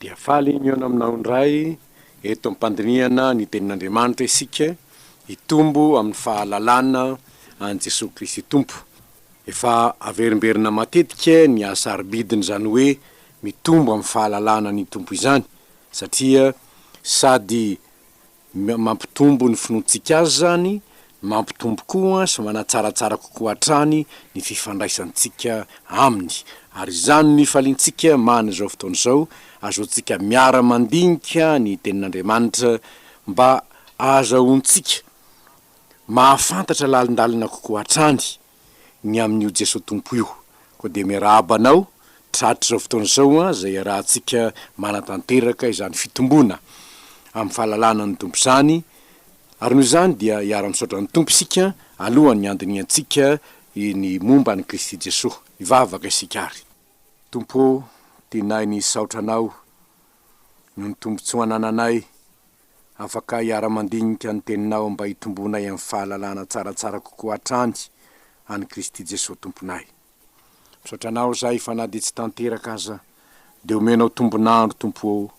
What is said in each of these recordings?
Dia faly mihaona aminao indray eto am-pandinihana ny Tenin'Andriamanitra isika, hitombo amin'ny fahalalana an'i Jesoa Kristy Tompo. Efa averimberina matetika ny hasarobidin'izany hoe mitombo amin'ny fahalalana ny Tompo izany, satria sady Mampitombo ny finoantsika Azy izany, mampitombo koa sy manatsaratsara kokoa hatrany ny fifandraisantsika Aminy. Ary izany no ifaliantsika man' izao fotoana izao, ahazoantsika miara-mandinika ny Tenin' Andriamanitra, mba ahazahoantsika mahafantatra lalindalina kokoa hatrany ny amin'io Jesoa Tompo io. Koa dia miarahaba anao tratr' izao fotoana izao izay iarahantsika manatanteraka izany fitomboana amin'ny fahalalana ny Tompo izany, ary noho izany dia iara-misaotra ny Tompo isika alohan'ny handinihantsika ny momba an'i Kristy Jesoa. Hivavaka isika ary. Tompo ô, tianay ny hisaotra Anao noho ny tombontsoa anananay Afaka hiara-mandinika ny teninao mba hitomboanay amin'ny fahalalana tsaratsara kokoa hatrany an'i Kristy Jesoa Tomponay. Misaotra Anao izahay fa na dia tsy tanteraka aza dia omenao tombon'andro Tompo ô.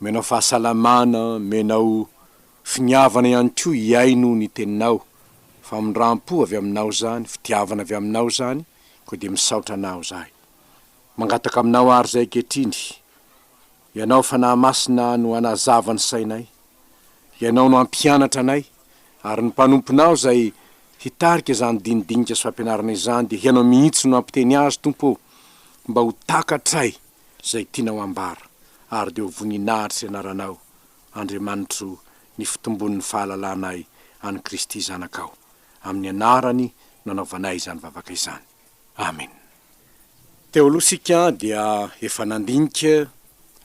Omenao fahasalamana, omenao finiavana ihany koa hihaino ny teninao, famindram-po avy Aminao izany, fitiavana avy Aminao izany, koa dia misaotra Anao izahay. Mangataka Aminao ary izahay ankehitriny. Ianao Fanahy Masina no hanazava ny sainay, Ianao no hampianatra anay, ary ny mpanomponao izay hitarika izany dinidinika sy fampianarana izany dia Ianao mihitsy no hampiteny azy Tompo ô, mba ho takatray izay tianao hambara, ary dia ho voninahitry ny anaranao Andriamanitro ny fitombon'ny fahalalanay an'i Kristy Zanakao, amin'ny anarany no anaovanay izany vavaka izany. Amen. Teo aloha isika dia efa nandinika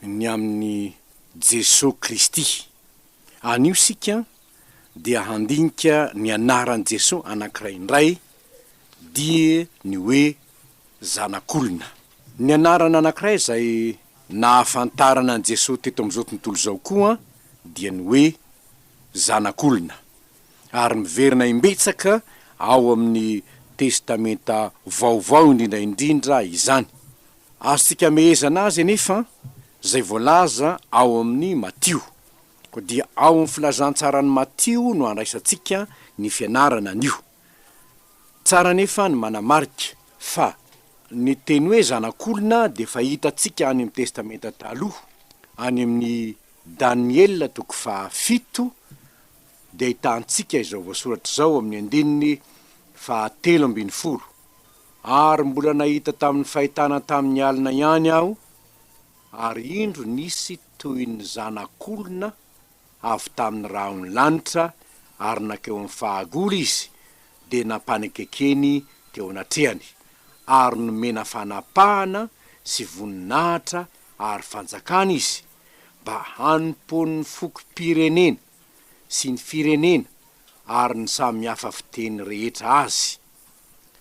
ny amin'i Jesoa Kristy. Anio isika dia handinika ny anaran'i Jesoa anankiray indray, dia ny hoe Zanak'olona. Ny anarana anankiray izay nahafantarana an'i Jesoa teto amin'izao tontolo izao koa dia ny hoe Zanak'olona. ary miverina imbetsaka ao amin'ny Testamenta Vaovao indrindra indrindra izany. Azontsika amehezana azy anefa izay voalaza ao amin'ny Matio. Koa dia ao amin'ny Filazantsaran'i Matio no andraisantsika ny fianarana anio. Tsara anefa ny manamarika fa ny teny hoe zanak'olona dia fahitantsika any amin'ny Testamenta Taloha, any amin'ny Daniela toko fahafito, dia ahitantsika izao voasoratra izao amin'ny andininy fahatelo ambin'ny folo, Ary mbola nahita tamin'ny fahitana tamin'ny alina ihany aho, ary indro nisy toy ny zanak'olona avy tamin'ny rahon'ny lanitra, ary nankeo amin'ny fahagola izy, dia nampanekekeny teo anatrehany, ary nomena fanapahana sy voninahitra ary fanjakana izy, mba hanompoan'ny fokom-pirenena, sy ny firenena ary ny samy hafa fiteny rehetra azy.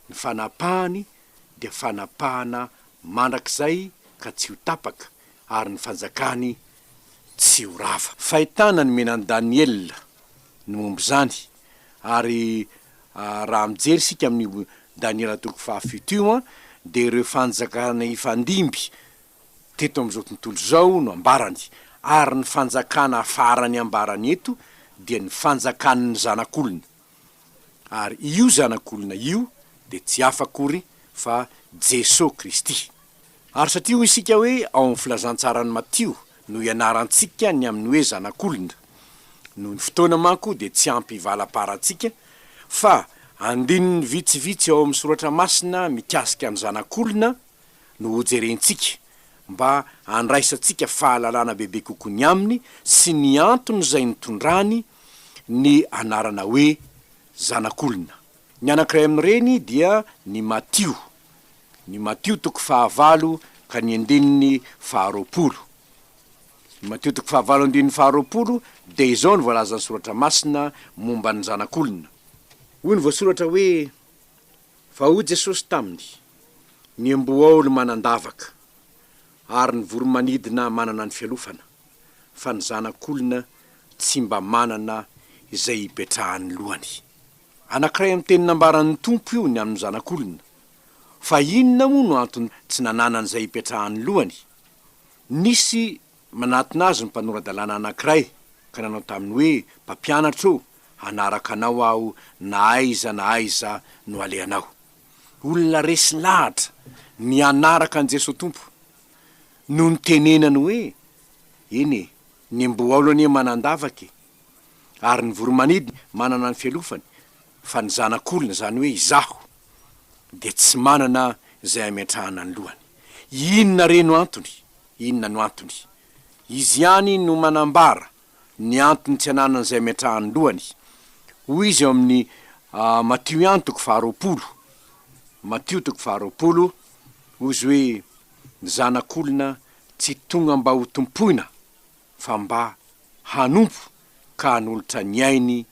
Ny fanapahany dia fanapahana mandrakizay ka tsy ho tapaka ary ny fanjakany tsy ho rava. Fahitana ny menan'i Daniela ny momba izany ary raha mijery isika amin'io Daniela toko fahafito io dia ireo fanjakana hifandimby teto amin'izao tontolo izao no ambarany, ary ny fanjakana farany ambarany eto dia ny fanjakan'ny Zanak'olona, ary io Zanak'olona io dia tsy hafa akory fa Jeso Kristy. Ary satria hoy isika hoe ao amin'ny Filazantsaran'i Matio no ianarantsika ny amin'ny hoe Zanak'olona, noho ny fotoana manko dia tsy ampy hivalam-parantsika, fa andininy vitsivitsy ao amin'ny Soratra Masina mikasika ny Zanak'olona, no hojerentsika mba handraisantsika fahalalana bebe kokoa ny aminy sy ny antony izay nitondrany ny anarana hoe Zanak'olona. Ny anankiray amin'ireny dia ny Matio, ny Matio toko fahavalo ka ny andininy faharoapolo. Ny Matio toko fahavalo andininy faharoapolo dia izao no voalazan'ny Soratra Masina momba ny Zanak'olona. Hoy ny voasoratra hoe. Fa hoy Jesosy taminy, Ny embohaolo manan-davaka, ary ny voro-manidina manana ny fialofana, fa ny Zanak'olona tsy mba manana izay hipetrahan'ny lohany. Anankiray amin'ny teny nambaran'ny Tompo io ny amin'ny Zanak'olona. Fa inona moa no antony tsy nananany izay hipetrahan'ny lohany? Nisy Manatona azy ny mpanora-dalàna anankiray ka nanao taminy hoe, Mpampianatra o, hanaraka anao aho na aiza na aiza no alehanao. Olona resy lahatra ny hanaraka an'i Jesoa Tompo. Nony tenenany hoe, Eny e, ny mboaolo anie manan-davaka e, ary ny voro-manidy manana ny fialofany, fa ny Zanak'olona, izany hoe izaho, dia tsy manana izay hametrahana ny lohany. Inona re no antony? Inona no antony? Izy ihany no manambara ny antony tsy ananan'izay miantraha ny lohany. Hoy izy ao amin'ny Matio ihany toko faharoapolo, Matio toko faharoapolo, hoy izy hoe, Ny Zanak'olona tsy tonga mba hotompoina, fa mba hanompo ka hanolotra ny ainy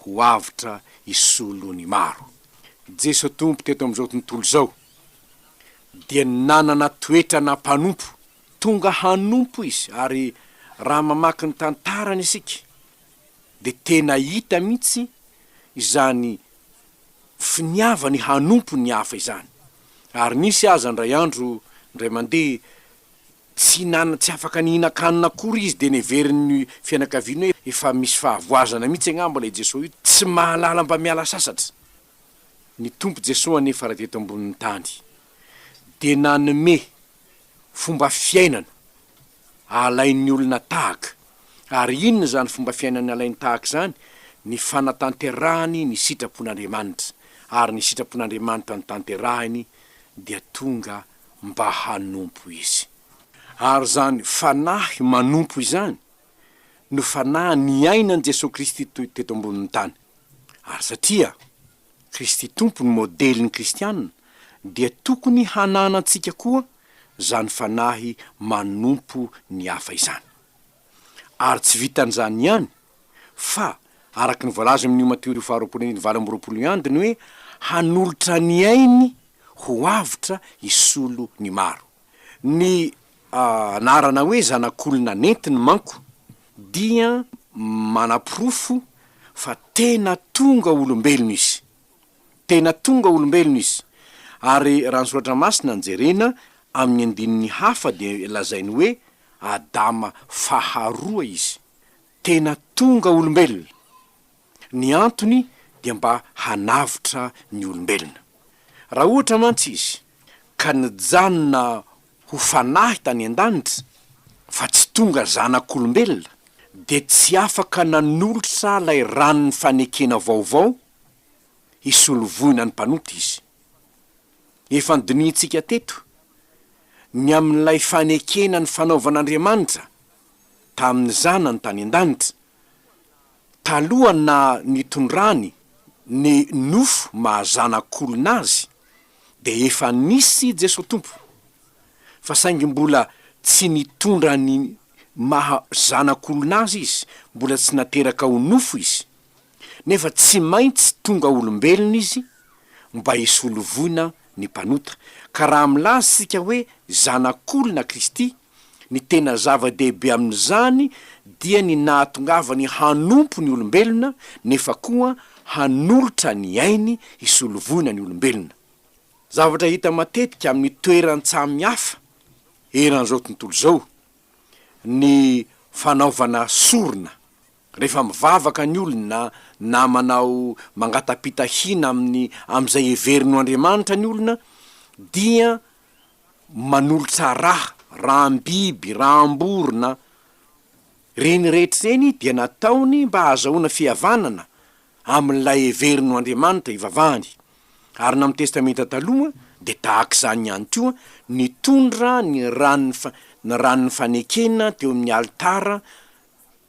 ho avotra hisolo ny maro. Jeso Tompo teto amin'izao tontolo izao dia nanana toetrana mpanompo. Tonga hanompo Izy ary raha mamaky ny tantarany isika dia tena hita mihitsy izany finiavany hanompo ny hafa izany. Ary nisy aza indray andro indray mandeha Tsy nan tsy afaka nihinan-kanina akory izy dia neverin ny fianakaviany hoe efa misy fahavoazana mihitsy angamba ilay Jesoa io, tsy mahalala mba miala sasatra. Ny Tompo Jesoa anefa raha teto ambonin'ny tany dia nanome fomba fiainana alain'ny olona tahaka, ary inona izany fomba fiainana alainy tahaka izany? ny fanatanterahany ny sitrapon'Andriamanitra, ary ny sitrapon'Andriamanitra notanterahiny dia tonga mba hanompo izy. Ary izany fanahy manompo izany no fanahy niainan'i Jesoa Kristy teto ambonin'ny tany. Ary satria Kristy Tompo no modelin'ny kristiana dia tokony hananantsika koa izany fanahy manompo ny hafa izany. Ary tsy vitan'izany ihany fa araka ny voalaza amin'ny Yom HaTiori faharoapolo andininy valo amby roapolo ny andiny hoe hanolotra ny ainy ho avotra hisolo ny maro. Ny anarana hoe zanak'olona nentiny manko dia manaporofo fa tena tonga olombelona izy. Tena tonga olombelona izy. Ary raha ny Soratra Masina no jerena, amin'ny andininy hafa dia lazainy hoe Adama faharoa izy. Tena tonga olombelona. Ny antony dia mba hanavotra ny olombelona. Raha ohatra mantsy izy ka nijanona ho fanahy tany an-danitra, fa tsy tonga zanak'olombelona, dia tsy afaka nanolotra ilay ranon'ny fanekena vaovao hisolo voina ny mpanota izy. Efa nodinihintsika teto ny amin'ilay fanekena ny fanaovan'Andriamanitra tamin'ny Zanany tany an-danitra, taloha na nitondrany ny nofo maha Zanak'olona Azy, dia efa nisy Jesoa Tompo, fa saingy mbola tsy nitondra ny maha Zanak'olona Azy Izy, mbola tsy nateraka ho nofo Izy. nefa tsy maintsy tonga olombelona izy mba hisolo voina ny mpanota, ka raha milaza isika hoe zanak'olona Kristy, ny tena zava-dehibe amin'izany dia ny nahatongavany hanompo ny olombelona, nefa koa hanolotra ny ainy hisolo voina ny olombelona. Zavatra hita matetika amin'ny toeran-tsamy hafa eran'izao tontolo izao ny fanaovana sorona. Rehefa mivavaka ny olona na manao mangata-pitahiana amin'ny amin'izay heveriny ho andriamanitra ny olona dia manolotra ra, ram-biby, ram-borona, ireny rehetra ireny dia nataony mba hahazahoana fihavanana amin'ilay heveriny ho andriamanitra ivavahany. Ary na amin'ny Testamenta Taloha dia tahaka izany ihany koa, nitondra ny ran'ny ny ran'ny fanekena teo amin'ny alitara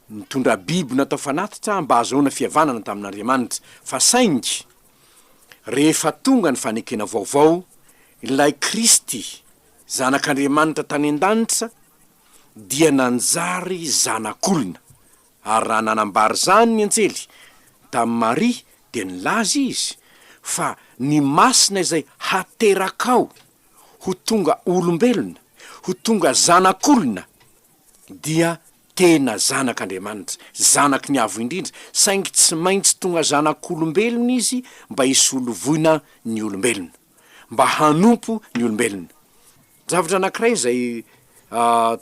Nitondra biby natao fanatitra aho mba hahazoana fihavanana tamin'Andriamanitra, fa saingy rehefa tonga ny fanekena vaovao, ilay Kristy, Zanak'Andriamanitra tany an-danitra, dia nanjary zanak'olona. Ary raha nanambara izany ny anjely tamin'i Maria, dia nilaza izy fa ny Masina izay haterakao ho tonga olombelona, ho tonga zanak'olona, dia tena Zanak' Andriamanitra, Zanaky ny Avo Indrindra, saingy tsy maintsy tonga zanak' olombelona izy mba hisolovoina ny olombelona, mba hanompo ny olombelona. Zavatra anankiray izay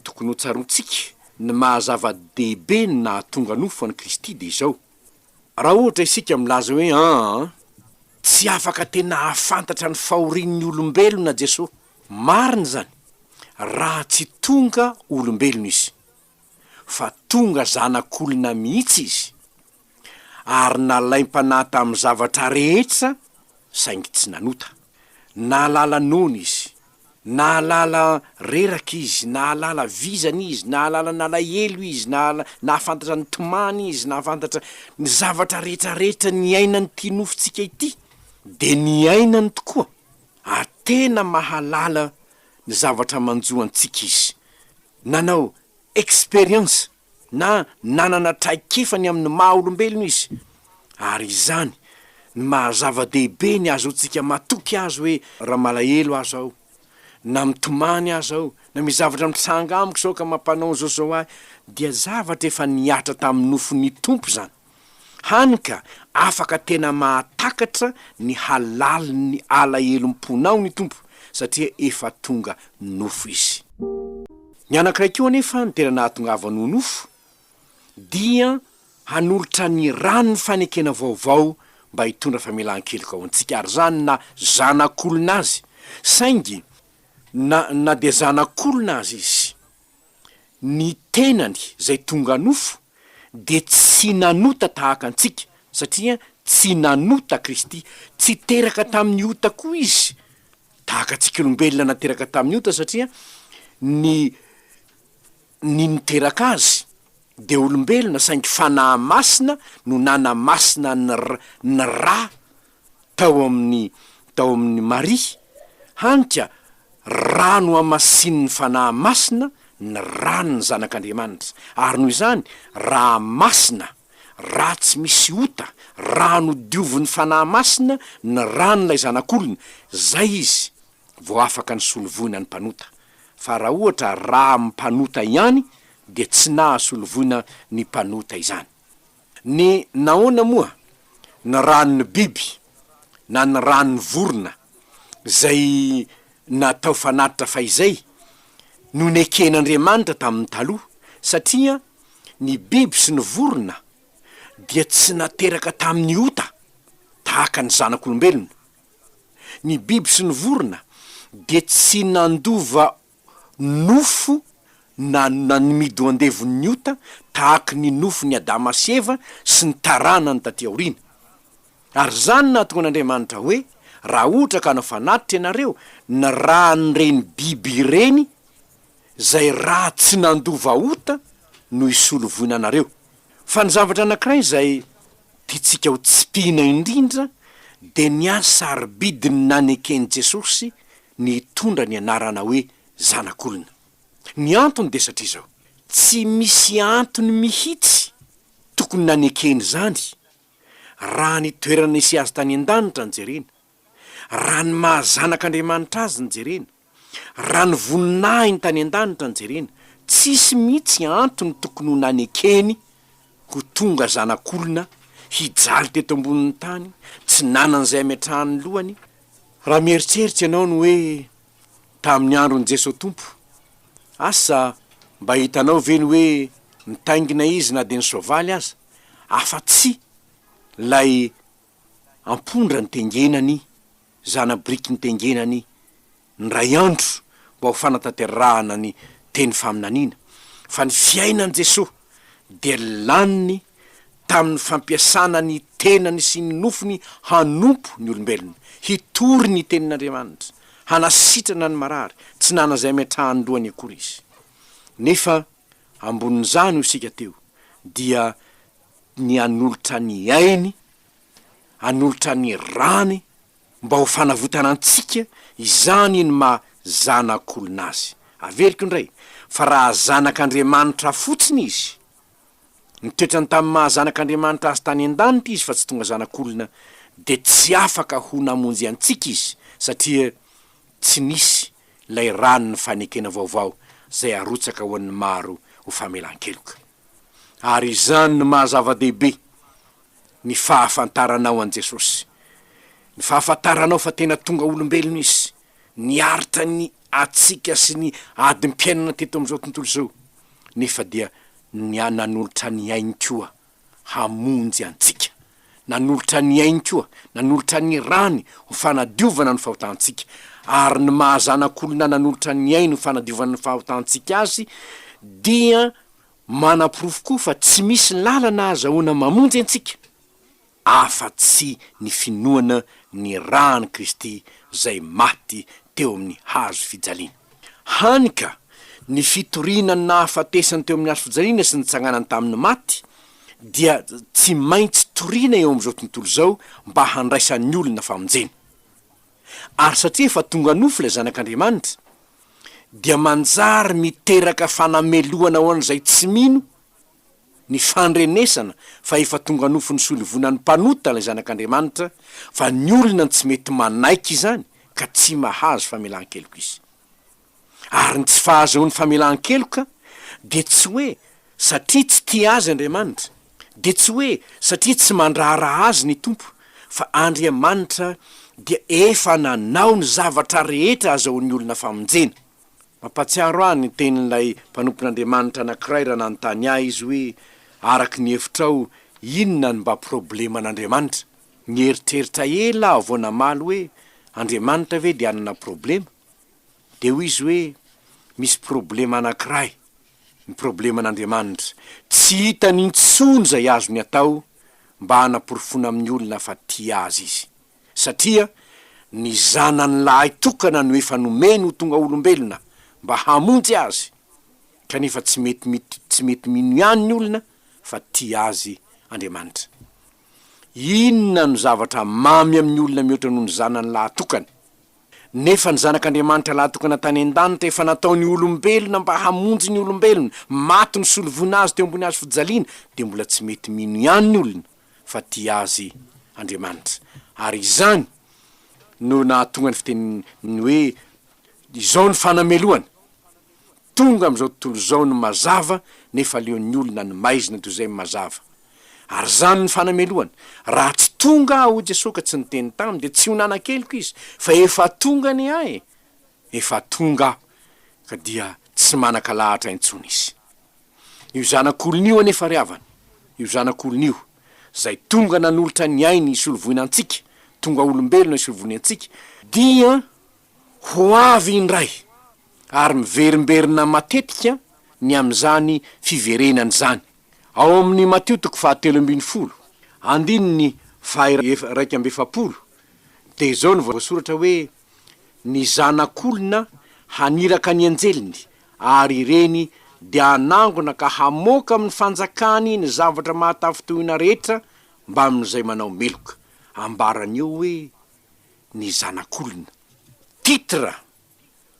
tokony hotsaroantsika, ny maha zava-dehibe ny nahatonga nofo an'i Kristy dia izao, raha ohatra isika milaza hoe, Aa, tsy afaka tena hahafantatra ny fahorian'ny olombelona Jesoa, Marina izany, raha tsy tonga olombelona izy, fa tonga zanak'olona mihitsy izy, ary nalaim-panahy tamin'ny zavatra rehetra saingy tsy nanota. Nahalala noana izy, nahalala reraka izy, nahalala vizana izy, nahalala nalahelo izy, nahala, nahafantatra ny tomany izy, nahafantatra ny zavatra rehetrarehetra niainan'ity nofontsika ity, dia niainany tokoa. ary tena mahalala ny zavatra manjo antsika izy. Nanao expérience na nanana traikefa ny amin'ny maha olombelona izy, ary izany ny maha zava-dehibe ny ahazoantsika matoky azy hoe raha malahelo aza aho, na mitomany aza aho, na misy zavatra mitranga amiko izao ka mampanonjozo ahy, dia zavatra efa nihatra tamin'ny nofon'ny Tompo izany. Hany ka afaka tena mahatakatra ny halalin'ny alahelom-ponao ny Tompo satria efa tonga nofo Izy. Ny anankiray koa anefa no tena nahatongavany ho nofo, dia hanolotra ny ran'ny fanekena vaovao mba hitondra famelan-keloka ho antsika, ary izany na zanak'olona azy, saingy na na dia zanak'olona aza izy, ny tenany zay tonga nofo dia tsy nanota tahaka antsika satria tsy nanota Kristy, tsy teraka tamin'ny ota koa izy tahaka antsika olombelona nateraka tamin'ny ota satria ny ny niteraka azy dia olombelona saingy fanahy masina no nanamasina ny ny rà. tao amin'ny tao amin'i Maria, hany ka Ra nohamasinin'ny Fanahy Masina ny ran'ny Zanak'Andriamanitra, ary noho izany Ra masina, Ra tsy misy ota, Ra nodiovin'ny Fanahy Masina ny ran'ilay Zanak'olona, izay Izy vao afaka nisolo voina ny mpanota, fa raha ohatra Ra mpanota ihany dia tsy naha solo voina ny mpanota izany. Ny nahoana moa? Ny ranon'ny biby na ny ranon'ny vorona izay natao fanatitra fahizay no neken'Andriamanitra tamin'ny taloha, satria ny biby sy ny vorona dia tsy nateraka tamin'ny ota tahaka ny zanak'olombelona. Ny biby sy ny vorona dia tsy nandova nofo na na ny midoandevon'ny ota tahaky ny nofon'i Adama sy Eva sy ny taranany taty aoriana. Ary izany nahatonga an'Andriamanitra hoe, Raha ohatra ka hanao fanatitra ianareo, ny ran'ireny biby ireny, izay ra tsy nandova ota, no hisolo voina anareo. Fa ny zavatra anankiray izay tiantsika ho tsipihina indrindra dia ny hasarobidiny naneken'i Jesosy ny hitondra ny anarana hoe zanak'olona. Ny antony dia satria izao, tsy misy antony mihitsy tokony nanekena izany raha ny toerana nisy azy tany an-danitra no jerena, raha ny maha zanak'Andriamanitra azy no jerena, raha ny voninahiny tany an-danitra no jerena, tsisy mihitsy antony tokony ho nanekeny ho tonga zanak'olona hijaly teto ambonin'ny tany, tsy nanana izay hametrahany ny lohany Raha mieritseritsy ianao ny hoe tamin'ny andron'i Jeso Tompo, asa mba hitanao ve ny hoe nitaingina Izy na dia ny soavaly aza, afa-tsy ilay ampondra nitengenany, zana-biriky nitengenany indray andro mba ho fanatanterahana ny teny faminaniana, fa ny fiainan'i Jesoa dia laniny tamin'ny fampiasana ny tenany sy ny nofony hanompo ny olombelona, hitory ny Tenin'Andriamanitra, hanasitrana ny marary, tsy nanana izay ametrahan-dohany akory izy. Nefa ambonin'izany hoy isika teo dia ny hanolotra ny ainy, hanolotra ny rany Mba ho fanavotana antsika izany ny maha zanak'olona azy. Averiko indray fa raha zanak'Andriamanitra fotsiny izy, nitoetrany tamin'ny maha zanak'Andriamanitra azy tany an-danitra izy fa tsy tonga zanak'olona, dia tsy afaka ho namonjy antsika izy satria tsy nisy ilay ranon'ny fanekena vaovao izay arotsaka ho an'ny maro ho famelan-keloka. Ary izany no maha zava-dehibe ny fahafantaranao an'i Jesosy, ny fahafantaranao fa tena tonga olombelona Izy, niaritra ny hatsiaka sy ny adim-piainana teto amin'izao tontolo izao, nefa dia nia nanolotra ny ainy koa hamonjy antsika, nanolotra ny ainy koa, nanolotra ny rany ho fanadiovana ny fahotantsika, ary ny maha Zanak'olona nanolotra ny ainy ho fanadiovana ny fahotantsika Azy dia Manaporofo koa fa tsy misy lalana azahoana mamonjy antsika afa-tsy ny finoana ny ran'i Kristy zay maty teo amin'ny hazo fijaliana. Hany ka, ny fitoriana ny nahafatesany teo amin'ny hazo fijaliana sy nitsanganany tamin'ny maty dia tsy maintsy toriana eo amin'izao tontolo izao mba handraisan'ny olona famonjena. Ary satria efa tonga nofo ilay Zanak'Andriamanitra, dia manjary miteraka fanamelohana ho an'izay tsy mino ny fandrenesana fa efa tonga nofin'ny solivonan'ny mpanota ilay Zanak'Andriamanitra fa ny olona no tsy mety manaiky izany ka tsy mahazo famelan-keloka izy. Ary ny tsy fahazoany famelan-keloka dia tsy hoe Satria tsy tia azy Andriamanitra, dia tsy hoe satria tsy mandraharaha azy ny Tompo, fa Andriamanitra dia efa nanao ny zavatra rehetra azahoan'ny olona famonjena. Mampahatsiaro ahy ny tenin'ilay mpanompon'Andriamanitra anankiray raha nanontany ahy izy hoe, Araka ny hevitrao, inona no mba probleman'Andriamanitra? Nieritreritra ela aho vao namaly hoe, Andriamanitra ve dia hanana problema? Dia hoy izy hoe, Misy problema anankiray. ny probleman'Andriamanitra, tsy hitany intsony izay azony atao mba hanaporofoana amin'ny olona fa tia azy Izy, satria ny Zanany lahy tokana no efa nomeny ho tonga olombelona mba hamonjy azy, kanefa tsy mety mity, tsy mety mino ihany ny olona fa tia azy Andriamanitra. Inona no zavatra mamy amin'ny olona mihoatra noho ny Zanany lahy tokana? Nefa ny Zanak'Andriamanitra lahatokana tany an-danitra efa natao ny olombelona mba hamonjy ny olombelona, maty nisolo voina azy teo ambony hazo fijaliana, dia mbola tsy mety mino ihany ny olona fa tia azy Andriamanitra. Ary izany no nahatonga ny fitenin'ny hoe, Izao ny fanamelohana. Tonga amin'izao tontolo izao ny mazava nefa aleon'ny olona ny maizina toy izay mazava. Ary izany ny fanamelohany. Raha tsy tonga aho, hoy Jesoa ka tsy niteny taminy, dia tsy ho nanan-keloka izy, fa efa tonga anie aho e! Efa tonga aho, ka dia tsy manan-kalahatra intsony izy. Io Zanak'olona io anefa ry havana, io Zanak'olona io, izay tonga nanolotra ny ainy hisolovoina antsika, tonga olombelona hisolovoina antsika, dia ho avy indray ary miverimberina matetika ny amin'izany fiverenany izany. Ao amin'i Matio toko fahatelo ambin'ny folo, andininy faha-iraika amby efapolo, dia izao no voasoratra hoe, Ny Zanak'olona haniraka ny anjeliny, ary ireny dia hanangona ka hamoaka amin'ny fanjakany ny zavatra mahatafintohina rehetra mbamin'izay manao meloka. Ambarany eo hoe, Ny Zanak'olona. Titre!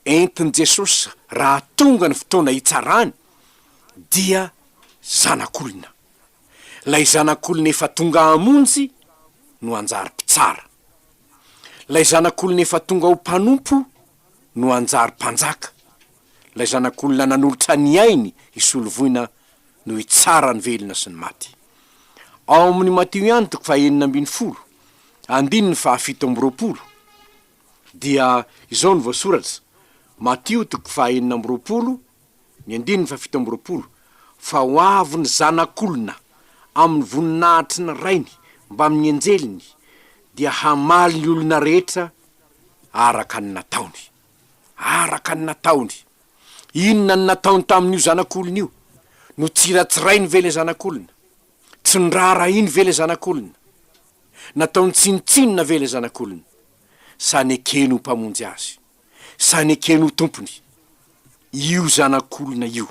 entin'i Jesosy raha tonga ny fotoana hitsarany dia Zanak'olona. Ilay Zanak'olona efa tonga hamonjy no hanjary Mpitsara. Ilay Zanak'olona efa tonga ho mpanompo no hanjary Mpanjaka. Ilay Zanak'olona nanolotra ny ainy hisolo voina no hitsara ny velona sy ny maty. Ao amin'ny Matio ihany toko fahenina ambin'ny folo, andininy fahafito amby roapolo. Dia izao no voasoratra, Matio toko fahaenina amby roapolo, ny andininy fahafito amby roapolo, Fa ho avy ny Zanak'olona amin'ny voninahitry ny Rainy mbamin'ny anjeliny, dia hamaly ny olona rehetra araka ny nataony. Araka ny nataony! Inona no nataony tamin'io Zanak'olona io? Notsiratsirainy ve ilay Zanak'olona? Tsy noraharahiany ve ilay Zanak'olona? nataony tsinontsinona ve ilay zanak'olona? Sa nekeny ho mpamonjy azy? Sa nekeny ho tompony? Io zanak'olona io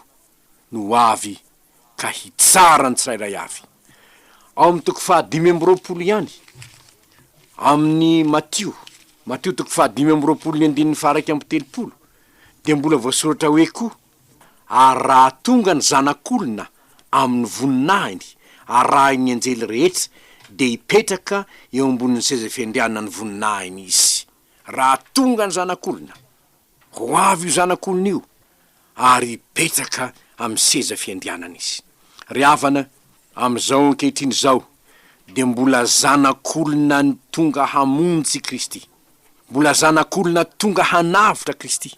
no ho avy ka hitsara ny tsirairay avy. Ao amin'ny toko fahadimy amby roapolo ihany amin'ny Matio, Matio toko fahadimy amby roapolo ny andininy faha iraika amby telopolo, dia mbola voasoratra hoe koa, Ary raha tonga ny Zanak'olona amin'ny voninahiny arahin'ny anjely rehetra, dia hipetraka eo ambonin'ny seza fiandrianan'ny voninahiny izy. Raha tonga ny Zanak'olona, ho avy io Zanak'olona io, ary hipetraka amin'ny seza fiandrianany izy. Ry havana, Amin'izao ankehitriny izao dia mbola zanak'olona ny tonga hamonjy Kristy, mbola zanak'olona tonga hanavotra Kristy,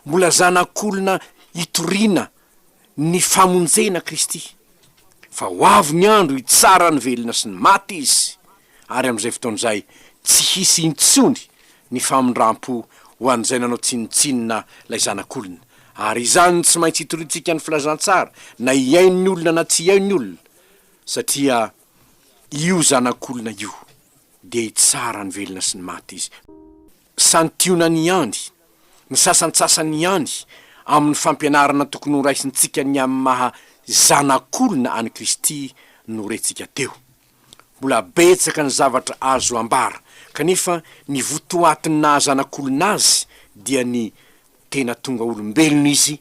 mbola zanak'olona hitoriana ny famonjena Kristy, fa ho avy ny andro hitsara ny velona sy ny maty Izy ary amin'izay fotoana izay tsy hisy intsony ny famindram-po ho an'izay nanao tsinontsinona ilay zanak'olona, ary izany no tsy maintsy itoriantsika ny filazantsara na hihaino ny olona na tsy hihaino ny olona, satria io zanak'olona io dia hitsara ny velona sy ny maty izy. Santionany ihany ny sasantsasany ihany amin'ny fampianarana tokony horaisintsika ny amin'ny maha zanak'olona an'i Kristy norentsika teo. Mbola betsaka ny zavatra azo ambara, kanefa ny votoatin'ny naha zanak'olona azy dia ny tena tonga olombelona izy,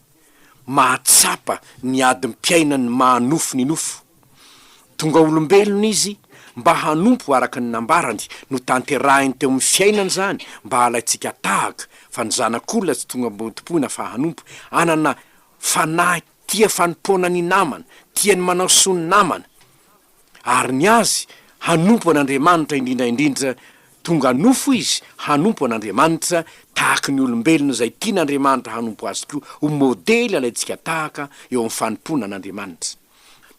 mahatsapa ny adim-piainan'ny maha nofo ny nofo. Tonga olombelona izy mba hanompo araka ny nambarany, notanterahiny teo amin'ny fiainany izany mba halaintsika tahaka fa ny zanak'olona tsy tonga mba hotompoina fa hanompo, hanana fanahy tia fanompoana ny namana, tia ny manao soa ny namana. ary ny azy hanompo an'Andriamanitra indrindra indrindra tonga nofo izy hanompo an'Andriamanitra tahaky ny olombelona izay tian'Andriamanitra hanompo azy koa ho modely alaintsika tahaka eo amin'ny fanompoana an'Andriamanitra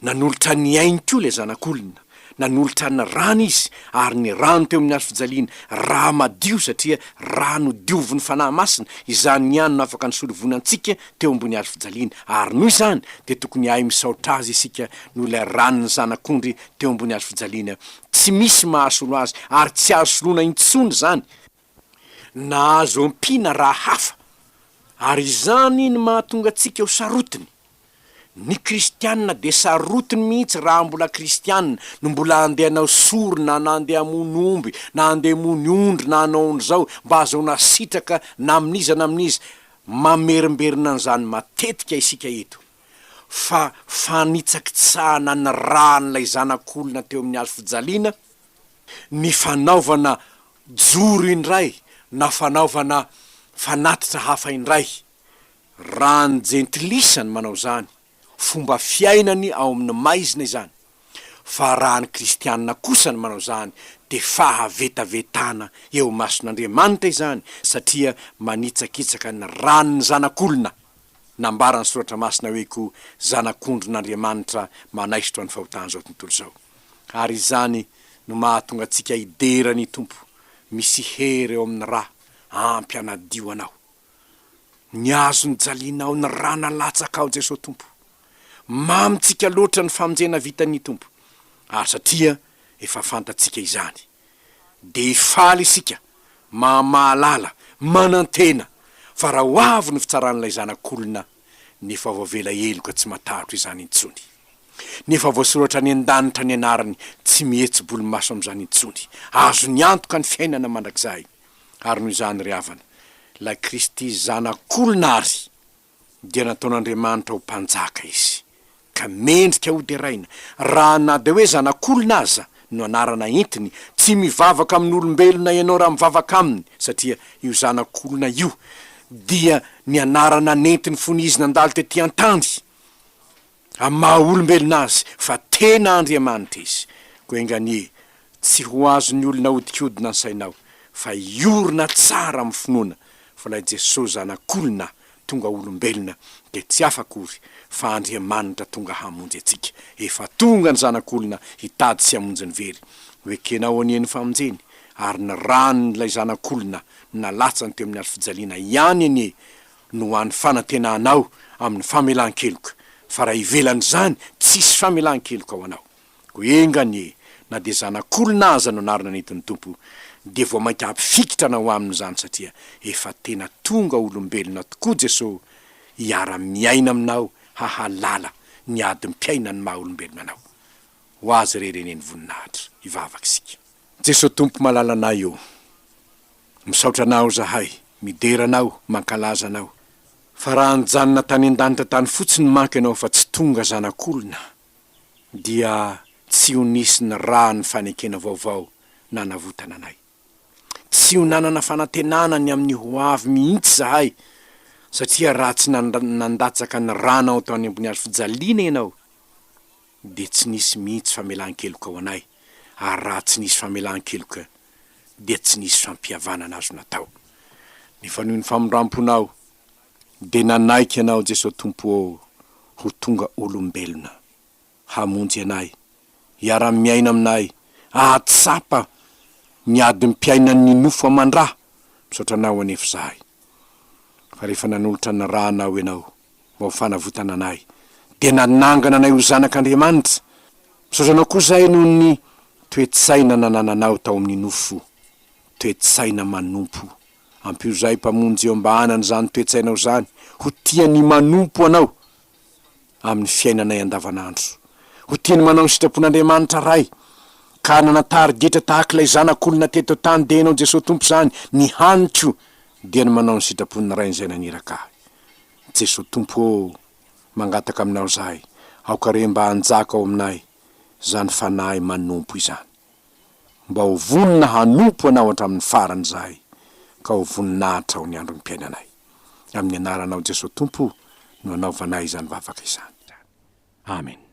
nanolotra ny ainy koa ilay zanak'olona nanolotra ny rany izy ary ny rano teo amin'ny hazofijaliana ra madio satria rano diovin'ny fanahy masina izany ihany no afaka nisolo voina antsika teo ambony hazo fijaliana, ary noho izany dia tokony hahay misaotra Azy isika noho ilay ran'ny Zanak'ondry teo ambony hazo fijaliana. Tsy misy mahasolo Azy, ary tsy azo soloina intsony izany na azo ampiana raha hafa, ary izany no mahatonga antsika ho sarotiny. Ny Kristiana dia sarotiny mihitsy raha mbola Kristiana no mbola handeha hanao sorona na handeha hamono omby na handeha hamono ondry na hanao an'izao mba hahazoana sitraka na amin'iza na amin'iza Mamerimberina an'izany matetika isika eto, fa fanitsakitsahana ny ràn'ilay zanak'olona teo amin'ny hazo fijaliana ny fanaovana joro indray na fanaovana fanatitra hafa indray, raha ny jentilisa no manao izany, fomba fiainany ao amin'ny maizina izany, fa raha ny kristianina kosa ny manao izany dia fahavetavetana eo imason'Andriamanitra izany satria manitsakitsaka ny ran'ny zanak'olona, nambaran'ny soratra masina hoe koa zanak'ondrin'Andriamanitra manaisotra ny fahotan'izao tontolo izao. Ary izany no mahatonga antsika hidera ny Tompo, misy hery ao amin'ny ra, ampy hanadio anao. Ny azo nijalianao ny ra nalatsakao Jesoa Tompo. Mamo tsika loatra ny famonjena vitan'ny Tompo ary satria efa fantatsika izany de faly isika maha mahalala manantena fa ra ho avy ny fitsaran'ilay zanak'olona ny efa voavela heloka tsy matahotra izany intsony ny efa voasoratra any andanitra ny anarany tsy mihetsi-bolomaso amzany intsony azony antoka ny fiainana mandrakizahiny Ary noho izany ry havana, ilay Kristy Zanak'olona àry dia nataon'Andriamanitra ho Mpanjaka Izy, ka mendrika hoderaina, raha na dia hoe Zanak'olona aza no anarana entiny, tsy mivavaka amin'olombelona ianao raha mivavaka Aminy, satria io Zanak'olona io dia ny anarana nentiny fony Izy nandalo tetỳ an-tany. amin'ny maha olombelona azy fa tena Andriamanitra izy, koa enga anie tsy ho azon'ny olona ahodikodina ny sainao fa hiorina tsara amin'ny finoana fa ilay Jesoa zanak'olona tonga olombelona dia tsy hafa akory fa Andriamanitra tonga hamonjy antsika, efa tonga ny zanak'olona hitady sy hamonjy ny very, ho ekenao anie ny famonjeny ary ny ran'ilay zanak'olona nalatsany teo amin'ny hazofijaliana ihany anie no ho an'ny fanantenanao amin'ny famelan-keloka, fa raha ivelan'izany, tsisy famelan-keloka ho anao. Koa enga anie, na dia zanak'olona aza no anarana nentin'ny Tompo, dia vao mainka hampifikitra anao Aminy izany satria efa tena tonga olombelona tokoa Jesoa hiara-miaina aminao hahalala ny adim-piainan'ny maha-olombelona anao. Ho Azy irery anie ny voninahitra. Hivavaka isika. Jeso Tompo malalanay o! Misaotra Anao zahay, midera Anao, mankalaza Anao. Fa raha nijanona tany an-danitra tany fotsiny manko Ianao fa tsy tonga zanak'olona, dia tsy ho nisy ny ra ny fanekena vaovao nanavotana anay. Tsy ho nanana fanantenana ny amin'ny ho avy mihitsy zahay, satria raha tsy nandatsaka ny rànao tao any ambony hazo fijaliana Ianao, dia tsy nisy mihitsy famelan-keloka ho anay, ary raha tsy nisy famelan-keloka, dia tsy nisy fampihavanana azo natao. Nifanohy ny famindram-ponao, dia nanaiky Anao, Jesoa Tompo ô, ho tonga olombelona, hamonjy anay, hiara-miaina aminay, ahatsapa ny adim-piainan'ny nofo aman-dra. Misaotra Anao anefa izahay. Fa rehefa nanolotra ny ràny aho ianao mba ho fanavotana anay, dia nanangana anay ho zanak' Andriamanitra. Misaotra anao koa izahay noho ny toe-tsaina nanananao tao amin'ny nofo, toe-tsaina manompo. Ampio izahay Mpamonjy eo am-bahanan' izany toe-tsainao izany ho tia ny manompo anao amin'ny fiainanay andavanandro. Ho tiany manao ny sitrapon'Andriamanitra Ray, ka hanana tari-getra tahaka ilay Zanak'olona teto an-tany dia ianao Jesoa Tompo izany, ny hany koa dia ny manao ny sitrapon'ny Rainy izay naniraka ahy. Jesoa Tompo ô, mangataka aminao izahay, aoka re mba hanjaka ao aminay izany fanahy manompo izany. mba ho vonona hanompo Anao hatramin'ny farany izahay, ka ho voninahitra ho ny androm-piainanay. Amin'ny Anaranao Jesoa Tompo no anaovanay izany vavaka izany. Amena.